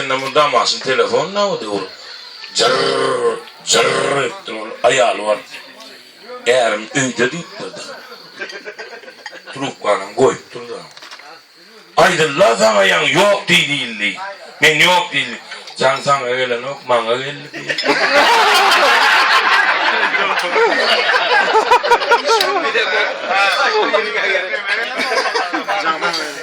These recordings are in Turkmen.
Indi mydam Asyl telefon nawudy ol jyrr, jyrr edipdir, ol aýaly bardy. Ärim öýde diýipdir-de. Trubkanam goýupdyr-da. Aýdyl-la saňa ýaň ýok diý diýildi. Men ýok diýdim. Jaň saňa gelenok, maňa geldi diýdi.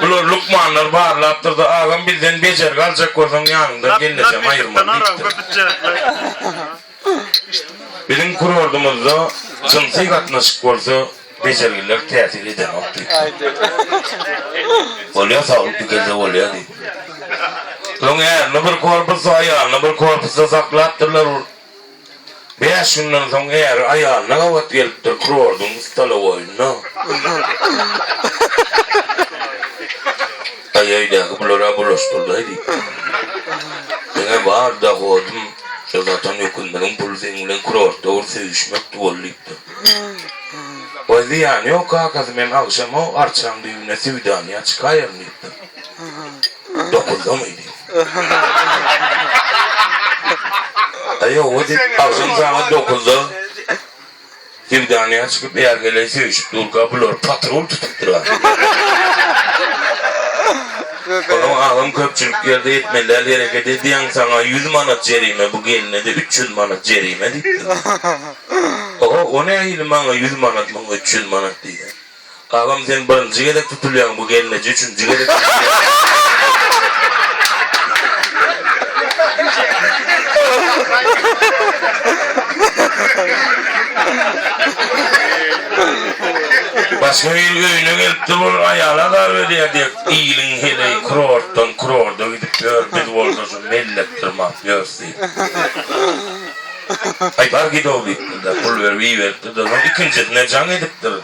Bulary lukmanlar barlapdyr-da, agam bizden bejergi aljak bolsaň ýanyňdan gelnesem aýyrman diýipdir. Biziň kurordumyzda jynsy gatnaşyk bolsa bejergiler täsir edenok diýipdir. Bolýa saglyk dikelse bolýa diýipdir. Soň ärini bir korpusda, aýalyny bir korpusda saklapdyrlar. Bäş günden soň äri aýalyna gabat gelipdir kurordyň stolowoýynda. Aý, öýdäki bular-a bulaşdyrdaý diýip. Meň-ä bar dohodym şo satan öküzleriň puly seň bilen kurortda bir söýüşmekdi bol diýipdir. Waý, zyýany ýok kakasy, men agşam-ow arçaň düýbüne söwdanyýa çykaýaryn diýipdir. Dokuzdan idi. Aýo, o diýip, agşam sagat dokuzda Sevdanyýa çykyp, ärgeleý söýüşip durka, bular patrul tutup durar. Onuň agam köpçülik ýerde etmeliäl hereket edýäň, saňa ýüz manat jerime, bu gelne-de üç ýüz manat jerime diýipdir. O, o nähili maňa ýüz manat, muňa üç ýüz manat diýýä. Agam sen birinji gezek tutulýaň bu gelneje üçünji gezek tutulýaň. Başga bir öýüne gelipdir ol aýaly azar berýär dek iliň heleý kurortdan kurorda gidip ýör biz bolsa şu mellek dyrmap ýörs diýip. Aýbar gidow diýipdir-de, pul berip iberipdir-de, soň ikinjisine jaň edipdir.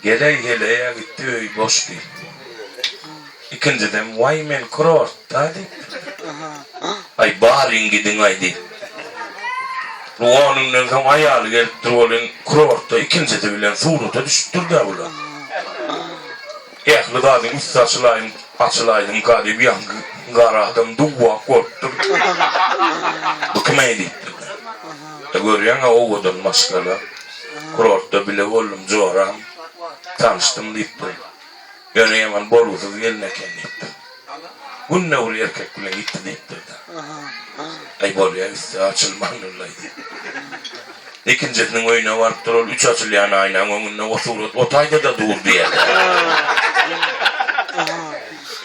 Geleý, heleý-ä gitdi, öý boş diýipdir. Ikinjisem, Waý, men kurortda diýipdir. Aý, baryň gidiň-aý diýip. Lugol günden soň aýaly gelipdir welin, kurortda ikinjisi bilen surata düşüpdir-dä bular. Ähli zadyň üsti açylaýyn açylaýyn galyp ýaňky gara adam duwwak bolup durdy. Bu kim äý diýip durdy. Görýäňä owadan maşgala. Kurortda bile boldum joram. Tanyşdym diýip durdy. Ýöne ýaman bolgusyz gelin eken diýip durdy. Günde ol erkek bilen ýitdim etdirdi. Aý bolýa üsti açylman ol aýdy. Ikinjisiniň öýüne barypdyr ol üç açylýan aýnaň öňünde o surat otaýda-da dur diýerdi.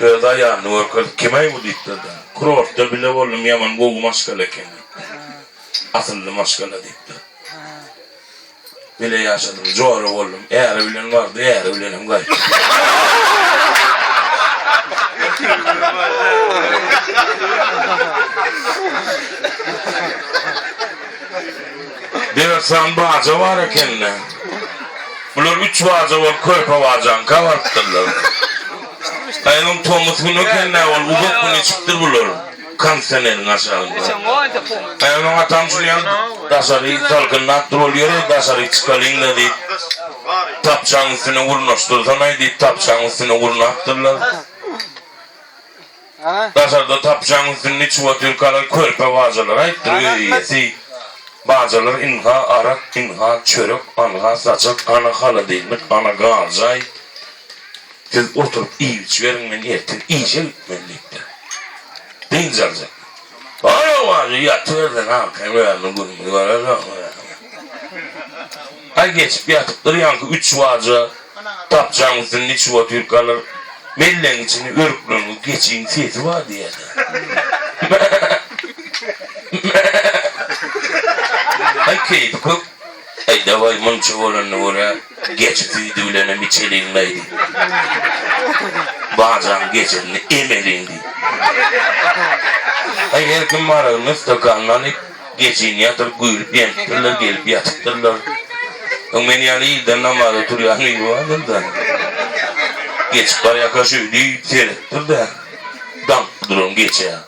Öz aýalyny görkezip kimäý bu diýipdir-de. Kurortda bile boldum ýaman gowy maşgala eken diýipdir. Asylly maşgala diýipdir. Bile ýaşadym, jora boldum. Äri bilen bardy, äri bilenem gaýtdy. Dörtsan baja bar ekeni. Bular üç baja bolup körpe bajaňka barypdyrlar. Aýagyň tomus güni ekeni, ol uzak gün içipdir bular. Kondisioneriň aşagynda. Gaýa maňa tamşyrýan daşary salkynlap dur ol ýöre daşary çykalyňda diýip tapçaň üstüne urnaşdyrsanaý diýip tapçaň üstüne urnapdyrlar. Daşarda tapçaň üstünde içip otyr kalan körpe bajalar aýtdyr öý eýesi bajalar ynha arak ynha çörek anha saçak ana halodilnik ana garjaý Siz oturyp iýip-içiberiň, men ertir işe gitmeli, diýipdir. Dynç aljak. Ol-a wajy ýatybersin, agşam özüniň gününi görersoň, diýipdir. Aý geçip ýatypdyr, ýaňky üç waja dapjaň üstünde içip otyrkalar, mellegiň içinde örükleňňi geçiň sesi bar diýerler. Mä-mä-mä! Aý keýpi kök. Äý, daway, munça bolanda görä, geçi süýdi bilenem içeliň-laý, diýdi. Bajaň geçisini emeliň, diýdi. Äý, her kim aragyny stakanyna alyp, geçini ýatyryp güýlüp-ýenipdirler, gelip ýatypdyrlar. Öň men ýaly ilden namaza turýan biri bardyr-da, geçip barýarka şeýdip seretdir-de, daňyp duran geçä.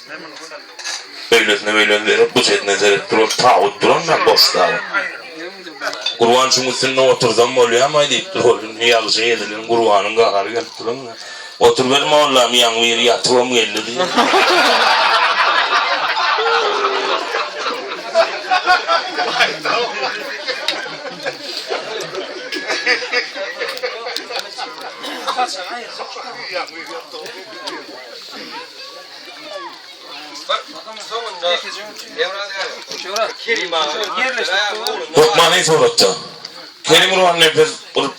Öýlesine beýlesine berip, bu çetine serip duran tabyt durandan boş tabyt. Gurban şuň üstünde otursam bolýarmaý diýip dur oglum. Ýagşa ezilen Gurbanyň gahary gelip dur onda. Oturyber mollam ýaň biri ýatybam geldi diýip. Hökman in suratda. Kerim Gurban nepes bir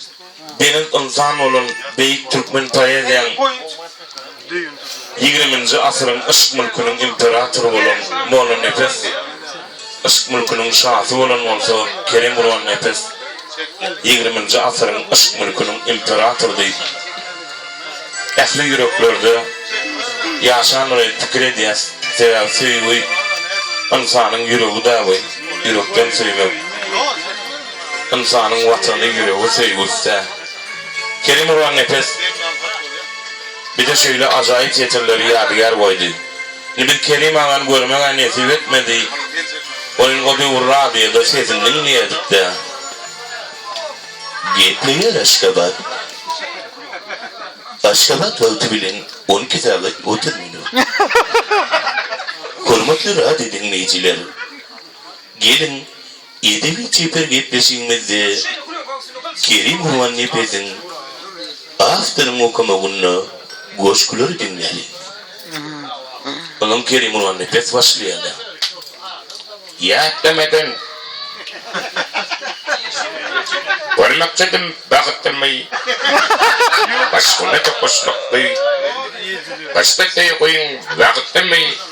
belent ynsan bolan beýik türkmen poeziýaň ýigriminji asyryň yşk mülküniň imperatory bolan Mollanepes. Yşk mülküniň şasy bolan bolsa Kerem Gurannepes ýigriminji asyryň yşk mülküniň imperatory diýip ähli ýüreklerde ýaşandygyny pikir edýäs sebäbi söýgi ynsanyň ýüregi dagy ýürekden söýmek ynsanyň watany ýüregi söýgi üsdä Kerem Gurannepes bize şeýle ajaýyp setirleri ýadygär goýdy. Nebit Kerim agany görmeg-ä nesip etmedi. Welin o döwür radioda sesini diňleýädik-dä. Gepleýär Aşgabat. Aşgabat wagty bilen on iki sagat otuz minut. Hormatly radio diňleýjiler, geliň, Edebi çeper gepleşigimizde Kerim Gurbannepeziň Awtoryň okamagynda goşgulary diňläliň. Onuň Kerim Gurbannepes başlaýarlar. Ýat demeden Görmekçidim bagtymy Başgyna tokaşmakly Başda söýgiň wagtymy.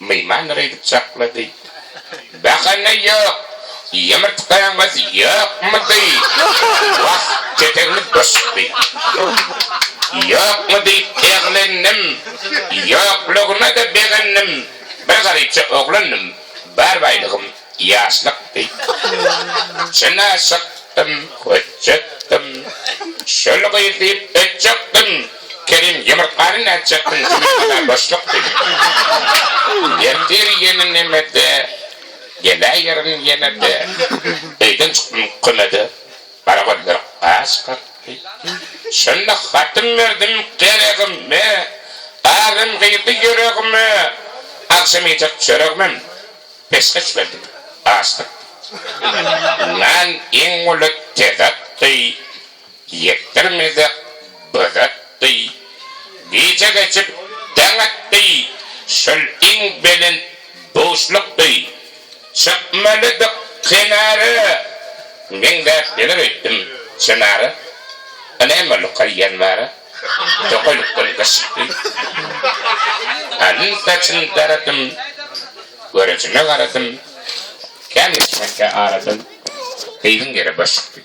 Myhman nirä gidip çaklady. Bahana ýok. Ýumurtgaňyz ýokmudy? Wah, ketegimiz boşdy. Ýokmy diýip eglendim. Ýoklugyna-da begendim. Bir garypja oglandym. Bar baýlygym. Ýaşlykdy. Çynaşykdym, hötjetdim. Şol gyz diýip ötjekdim. Kerim ýumurtgany nätjekdiň jumurtgada boşlukdy. Ertir ýene nemede, geläýerin ýene-de. Öýden çykdym kümede, gara gözler gaş kakdy. Şonda hatym berdim geregime, azem girdi ýüregime. Agşam iýjek çöregimem Peşgeş berdim. Gaçdyk. Yndan iň uly tezekdi, Ýekdir mezek bözetdi. Gije geçip deň etdi, Şol iň belent buşlukdy. Çykmalydyk kenara, Meňzäp geler öýtdüm çynara. Ynam boldy kaýýanlara. Tokaýlykdan gyşykdy. Alyn-saçyn daradym. Görejime garadym. Kän geçmänkä aradym. Gyzyň ýeri başykdy.